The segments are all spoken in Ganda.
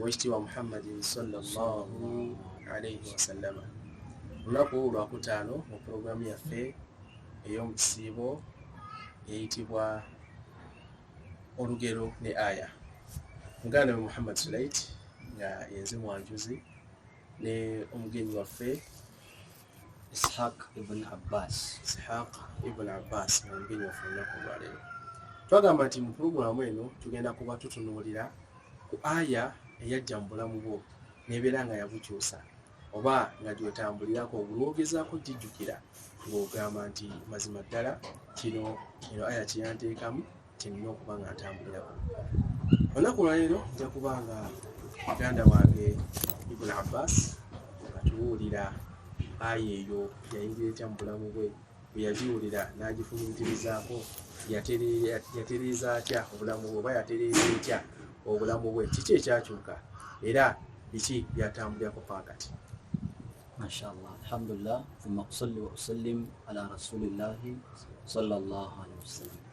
owekitiibwa muhammadin sallallahu alaihi wasallama olunaku lwakutaano mu pulogulaamu yaffe ey'omu kisiibo eyitibwa olugero ne aya muganda we muhammad sulait nga yenze mwanjuzi ne omugenyi waffe ishaq ibn abbas ishaq ibn abbas mumbinyufu olunaku olwaleero twagamba nti mu pulogulaamu eno tugenda kuba tutunuulira ku aya eyajja mu bulamu bwo nebeera nga yabukyusa oba nga gyotambulirako olwogezaako gijjukira ng'ogamba nti mazima ddala kino eno aya kyeyanteekamu kyennina okuba nga ntambulirako olunaku olwaleero nja kuba nga muganda wange ibuni abbas atuwulira aya eyo yayingira etya mu bulamu bwe bweyagiwulira n'agifumitirizaako yatereeza atya obulamu bwe oba yatereeza etya obulamu bwe kiki ekyakyuka era biki byatambulirako pakati mashallah alhamdulillah thumma usalli wa usallim ala rasulillahi sallallahu alaihi wasallam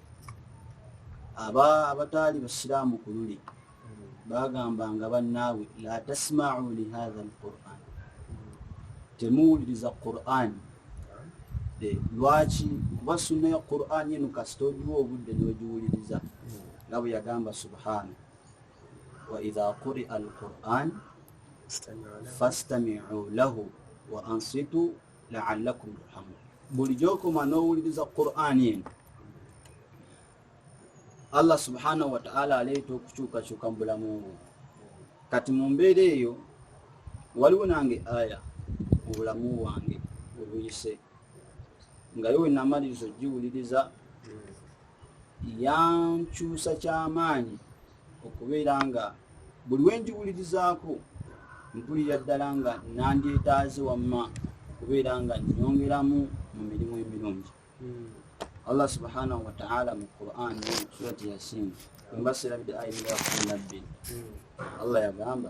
aba abataali basiraamu ku luli bagambanga bannaabwe la tasmau lihatha alquran temuwuliriza qurani eh, lwaki kuba sunna ya qurani eno kasita ogiwa obudde nogiwuliriza nga bwe yagamba subhana waidha quria alquran fastamiu lahu wa ansitu laallakum turhamun buli gyokoma n'owuliriza qur'ani eno allah subhanahu wataala aleeta okukyukakyuka mu bulamu bwo kati mu mbeera eyo waliwo nange aya mu bulamu bwange obuyise nga yo wenamaliriza ogiwuliriza yankyusa kyamaanyi okubeera nga buli wenjiwulirizaako mpulira ddala nga nandyetaaze wamma okubeera nga nyongeramu mu mirimu emirungi hmm. allah subhanahu wataala mu quran surati yasin wembaserabidde ayimira kunabbi hmm. allah yagamba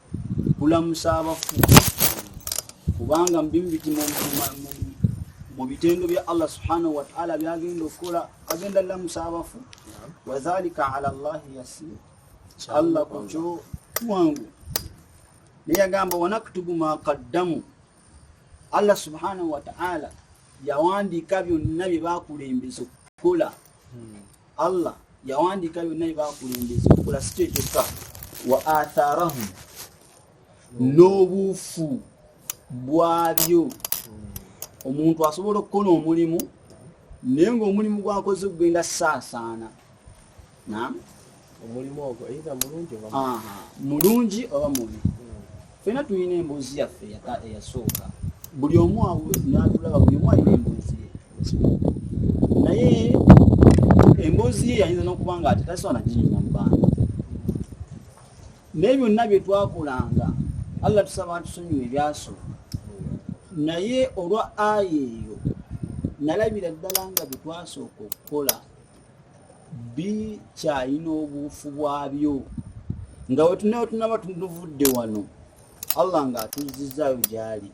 kulamusa abafu kubanga mubimu biti mu bitendo bya allah subhanahu wataala byagenda okukola agenda lamusa abafu wadhalika ala llahi yasir allah kukyo kwangu naye agamba wanaktubu ma qaddamu allah subhanahu wataala yawandiika byonna bye bakulembeza okukola hmm. allah yawandiika byonna byebakulembeza okola si kyekyokka wa atharahum n'obuufu bwabyo omuntu asobola okukola omulimu naye ngaomulimu gwakoze okugenda saasaana nam omulimu ogwo either mulungi oba mulungi oba mubi fena tulina emboozi yaffe eyasooka buli omu natulaba buli omu alina emboozi ye naye emboozi ye yayinza n'okuba nga ate tasobola naginyuma mu bantu naye byonna bye twakolanga allah tusaba atusonyiwa ebyasooka naye olwa aya eyo nalabira ddala nga bye twasooka okukola bikyalina obuufu bwabyo nga wetunawe tunaba tunuvudde wano allah nga atuzzizaayo gyali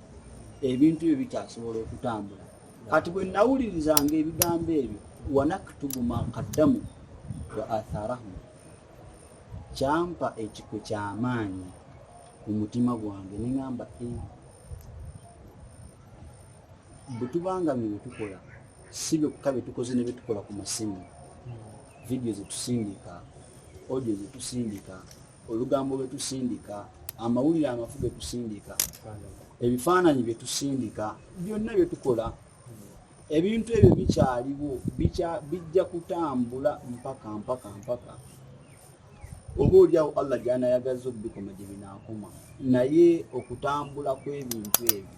ebintu ebyo bikyasobola okutambula kati bwe nawulirizanga ebigambo ebyo wanaktubu makaddamu wa atharahu kyampa ekikwe kyamaanyi mu mutima gwange neŋamba eh, bwetubanga bye byetukola si byokka bye tukoze ne bye tukola ku masimu vidiyo ze tusindika odio ze tusindika olugambo lwe tusindika amawulire amafu ge tusindika ebifaananyi bye tusindika byonna bye tukola ebintu ebyo bikyaliwo bijja kutambula mpaka mpaka mpaka oba olyawo allah gyanayagaza okubikoma gye binaakoma naye okutambula kw'ebintu ebyo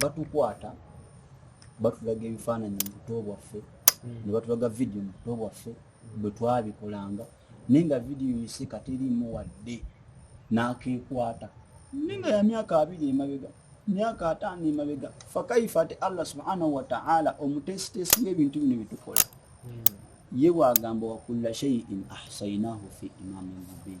batukwata batulaga ebifaananyi mu buto bwaffe hmm. ne batulaga vidiyo mu buto bwaffe hmm. bwe twabikolanga naye nga vidiyo yiseka teriimu wadde n'akeekwata naye nga ya myaka abiri emabega myaka ataano emabega fakaifa ate allah subhanahu wataala omuteesiteesi ng'ebintu bino bitukola hmm. ye bwagamba wakulla shaiin ahsainahu fi imamin mubin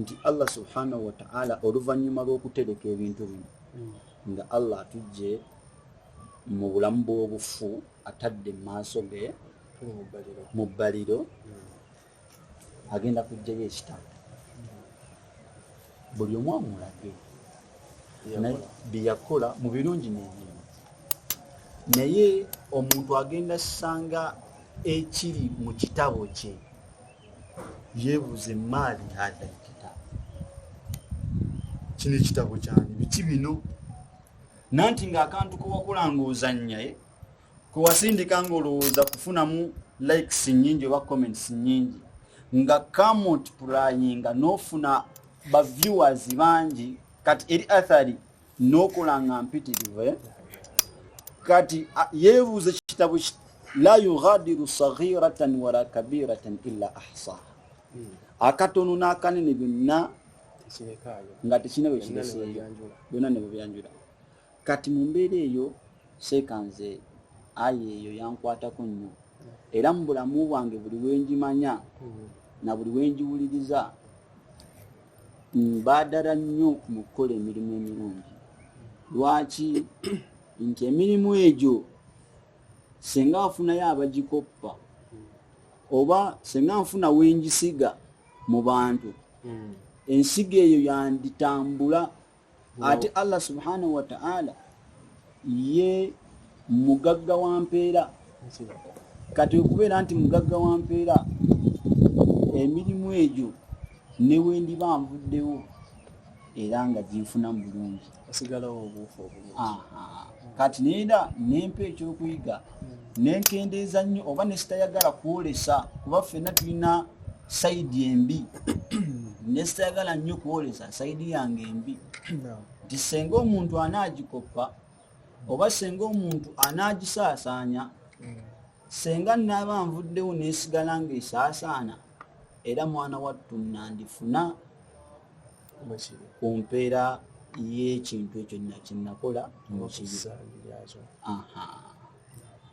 nti allah subhanahu wataala oluvannyuma lw'okutereka ebintu bino hmm. nga allah atujje mu bulamu bw'obufu atadde mu maaso ge mu bbaliro hmm. agenda kujjayo ekitabo buli omu amulage byeyakola mu birungi nebimu naye omuntu agenda sanga ekiri mu kitabo kye yebuuze maali hadha lkitaabu kino ekitabo kyani biki bino nanti nga akantu kewakula nga ozanyaye kewasindika nga olowooza kufunamu likes nyingi oba comments nyingi nga kamot purayinga nofuna baviewers bangi kati eri athari nokola nga mpitirivu eh? kati yebuuza ekitabo la yughadiru saghiratan wala kabiratan illa ahsaha hmm. akatono n'akanene byonna nga tekina bwe kireseeyo byonna ne bwebyanjula kati mu mbeera eyo seeka nze ayi eyo yankwatako nnyo era mu bulamu bwange buli wenjimanya hmm. na buli wenjiwuliriza baadala nnyo mu kukola emirimu emirungi lwaki nti emirimu egyo senga afunayo abagikoppa oba senga nfuna wengisiga mu bantu hmm. ensiga eyo yanditambula ate allah subhanahu wataala ye mugagga wa mpeera kati okubeera nti mugagga wa mpeera emirimu egyo newendiba nvuddewo era nga ginfunamu bulungi kati neera nempa ekyokuyiga nenkendeeza nnyo oba nesitayagala kwolesa kuba ffenna tulina saidi embi nesitayagala nnyo kwolesa saidi yange embi nti senga omuntu anaagikoppa oba senga omuntu anaagisaasaanya mm. senga naaba nvuddewo nesigala ngaesaasaana era mwana wattu nandifuna ku mpeera y'ekintu ekyo nina kyenakola mukibi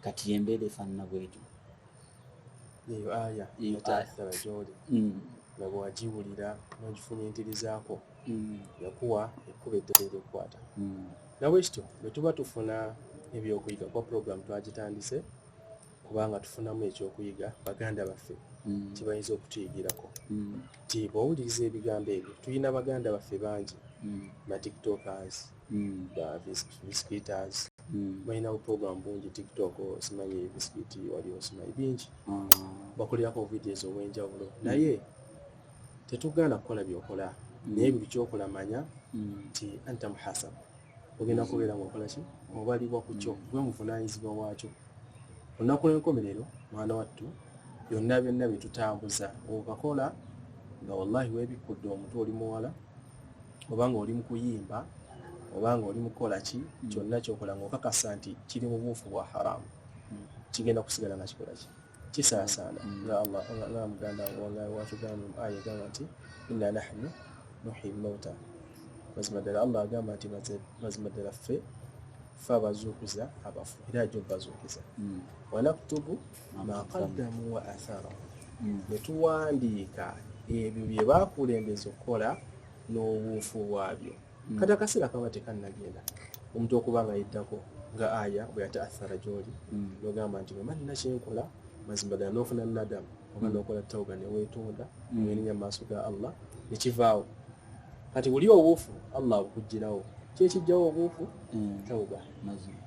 kati yembeera efaanana bwetyo eyo aya yetaasala gyoli mm. nga bwewagiwulira nogifumintirizaako mm. yakuwa ekkuba eddala eryokukwata mm. nabwekityo bwetuba tufuna ebyokuyiga kuba puroguramu twagitandise kubanga tufunamu ekyokuyiga baganda baffe mm. kibayinza okutuyigirako mm. ti bwowuliriza ebigambo ebyo tulina baganda baffe bangi mm. batiktokers biscuiters balina buprogramu bungi tiktok simanyi biscuit wali osimanyi bingi bakolirako obuvidios obwenjawulo naye tetugaana kukola byokola naye buli kyokola manya nti anta muhasaba ogenda kubeera ngaokolaki obalibwa ku kyo gwe muvunanyizibwa waakyo olunaku lwenkomerero mwana wattu byonna byonna byetutambuza okakola nga wallahi webikkudde omutu oli muwala oba nga oli mukuyimba oba nga oli mukukola ki kyonna kyokola ngaokakasa nti kiri mubuufu bwa haramu kigenda kusigala nga kikola ki kisaasaana mm. nga allah nga muganda wanga watugamba mu aya egamba nti inna nahnu nuhi lmauta mazima ddala allah agamba nti mazima ddala ffe fe abazuukuza abafu era aja obazuukiza mm. wanaktubu maqaddamu wa athara mm. ne tuwandiika ebyo bye bakulembeza okukola n'obuufu bwabyo mm. hmm. kati akaseera kaba tekannagenda omuntu okuba nga yeddako nga aya bwe yataathara gyoli hmm. nogamba nti bwema nina kyenkola mazima ddala nofuna nadamu oba hmm. nokola tawuba newetonda nerinya maaso ga allah nekivaawo kati wuli obuufu allah abukugirawo kyekijjawo obuufu tawuba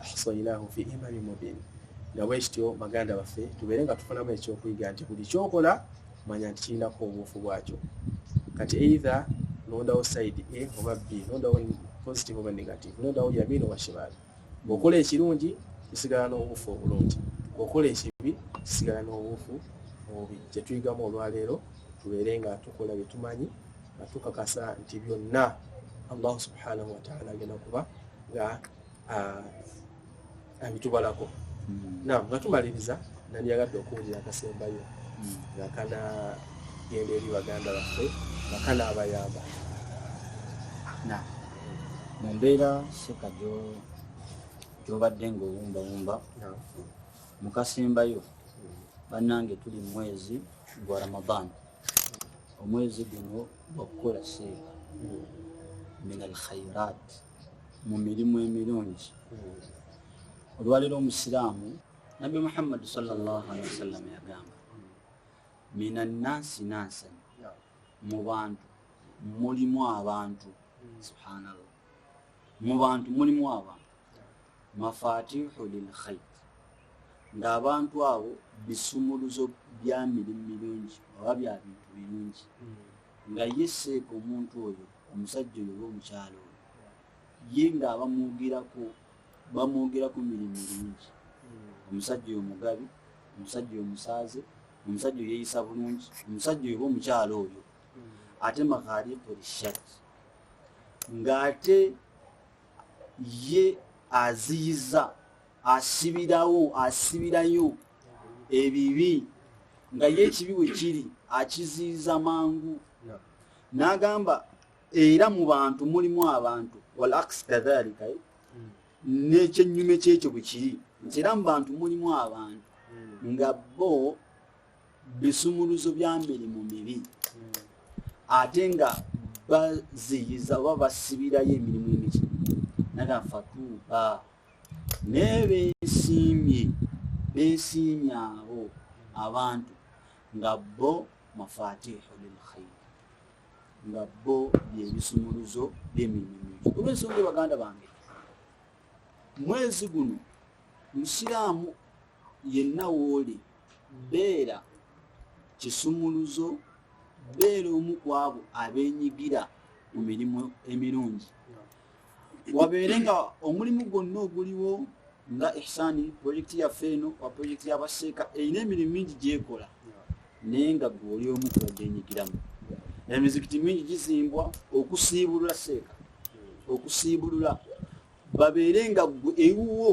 ahsainahu fi imami mubin nga bwekityo baganda baffe tubeere nga tufunamu ekyokuyiga nti buli kyokola manya nti kirinako obuufu bwakyo kati eitha nondawo side a oba b nondawo positive oba negative nondawo yamino washimaali ngaokola ekirungi kisigala n'obuufu obulungi ngaokola ekibi kisigala n'obuufu obubi kyetuyigamu olwaleero tubeere nga tukola byetumanyi nga tukakasa nti byonna allahu subhanahu wataala agenda kuba nga abitubalako hmm. na nga tumaliriza nandiyagadde okuwulira akasembayo hmm. nga kana genda eri baganda baffe nga kana abayamba na mu mbeera seka gyobadde ngaowumbawumba mu kasembayo hmm. bannange tuli mu mwezi gwa ramadan omwezi guno gwakukola seeka min alkhairat mu mirimu emirungi olwaleero omusiraamu nabbi muhammadi salllahalihi wasallama yagamba mina nansi nansan mu bantu mulimu abantu subhanallah mu bantu mulimu abantu mafatihu lilkhayr ng'abantu abo bisumuluzo bya mirimu mirungi oba bya bintu birungi nga ye seeka omuntu oyo omusajja oyo oba omukyalo oyo ye nga abamwogerako bamwogerako mirimu mingi hmm. omusajja oyo mugabi omusajja oyo musaaze omusajja oyo yeyisa bulungi omusajja oyo oba omukyalo oyo hmm. ate maghariqu lishak ng'ate ye aziyiza asibirawo asibirayo ebibi nga ye ekibi we kiri akiziiza mangu n'agamba era mu bantu mulimu abantu wal aks kadhalika eh? hmm. n'ekyennyume kyekyo bwe kiri nti era mu bantu mulimu abantu hmm. nga bo bisumuluzo bya mirimu mibi hmm. ate nga baziyiza oba basibirayo emirimu emiki naga fatuuba naye besiimye besiimye abo abantu nga bo mafatihu lilkhair nga bo byebisumuluzo byemirimu kuba ensonga ebaganda bange mwezi guno musiraamu yenna wooli beera kisumuluzo beera omu kwabo abenyigira mu mirimu emirungi wabeere nga omulimu gwonna oguliwo nga ihsani projekiti yaffe eno wa projekiti yabaseeka erina emirimu mingi gyekola naye nga gwe oli omu kubagenyigiramu emizikiti mingi gizimbwa okusiibulula seeka okusiibulula babeere nga gwe ewuwo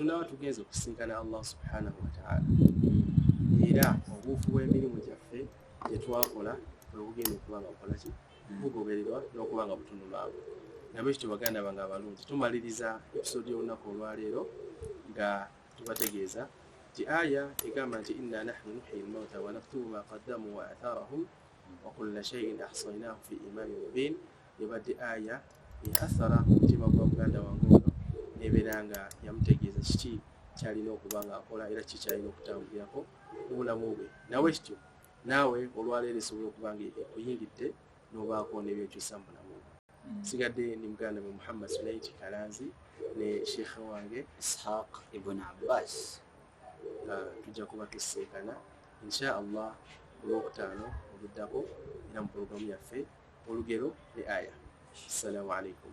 tunaaba tugenza okusinkana allah subhanahu wataala era obuufu bw'emirimu gyaffe gyetwakola bwebugenda okuba nga bukolaki bugobererwa n'okuba nga butunulwamu nabwe kityo baganda bange abalungi tumaliriza episode y'olunaku olwaleero nga tubategeeza nti aya egamba nti inna nahnu nuhyi lmauta wanaktubu ma qaddamu wa atharahum wakulla shaiin ahsainahu fi imami mubin ebadde aya eathara mutima gwa muganda wange ono nebeera nga yamutegeeza kiki kyalina okuba nga akola era kikyalina okutambulirako mubulamu bwe nawe kityo naawe olwaleero esobola okuba nga ekuyingidde n'obaako nebyokyusa mu bulamu mm. sigadde ni muganda we muhammad sulaiti kalanzi ne sheikha wange ishaq ibn abbas ah, tujja kuba tusinkana insha allah olwokutaano oluddako era mu pulogulamu yaffe olugero ne aya assalamu alaikum